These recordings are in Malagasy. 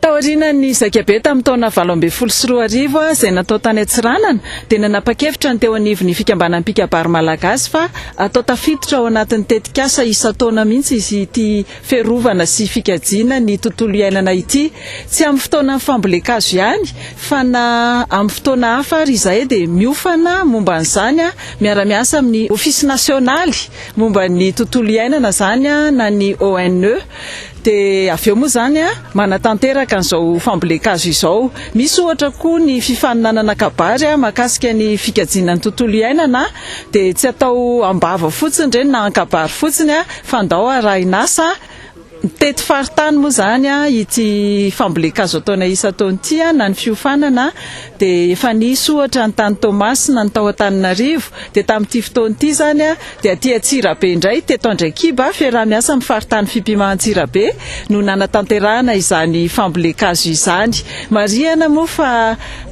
Taorianan'ny Zaikabe tamin'ny taona valo ambin'ny folo sy roa arivo izay natao tany Antsiranana dia nanapa-kevitra ny teo anivon'ny Fikambanan'ny Mpikabary Malagasy fa atao tafiditra ao anatin'ny tetikasa isan-taona mihitsy izy ity fiarovana sy fikajiana ny tontolo iainana ity. Tsy amin'ny fotoanan'ny fambolen-kazo ihany fa na amin'ny fotoana hafa ary izahay dia miofana momba an'izany miara-miasa amin'ny Ofisy Nasionaly momba ny Tontolo Iainana izany na ny ONE. Dia avy eo moa izany, manatanteraka an'izao fambolen-kazo izao. Misy ohatra koa ny fifaninanana kabary mahakasika ny fikajiana ny tontolo iainana, dia tsy atao am-bava fotsiny ireny na an-kabary fotsiny fa ndao arahin'asa. Mitety faritany moa izany ity fambolen-kazo ataonay isan-taona ity na ny fiofanana dia efa nisy ohatra ny tany Toamasina, ny tao Antananarivo, dia tamin'ity fotoana ity izany dia aty Antsirabe indray, teto Andraikiba, fiaraha-miasa amin'ny faritany Fipima Antsirabe no nanatanterahana izany fambolen-kazo izany. Marihana moa fa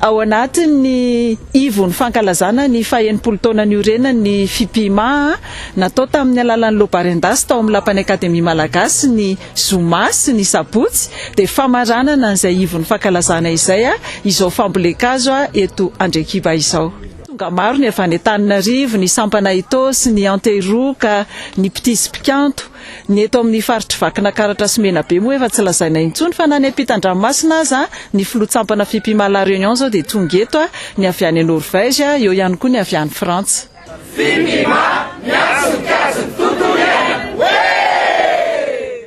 ao anatin'ny ivon'ny fankalazana ny fahenimpolo taona niorenan'ny Fipima, natao tamin'ny alalan'ny Lobarendasy tao amin'ny Lapan'ny Akademia Malagasy ny Zoma sy ny sabotsy dia famaranana an'izay ivon'ny fankalazana izay izao fambolen-kazo eto Andriakiba izao. Tonga maro ny avy any Antananarivo, ny sampana Ethos, ny Antehiroka, ny Mpitia sy Mpikanto. Ny eto amin'ny faritr'i Vakinakaratra sy Menabe moa efa tsy lazaina intsony fa na ny ampitan-dranomasina aza, ny filohan-tsampana Fipima La Réunion izao dia tonga eto, ny avy any Norvège, eo ihany koa ny avy any Frantsa. Fipima, miantso ny kajy ny tontolo iainana! Wee!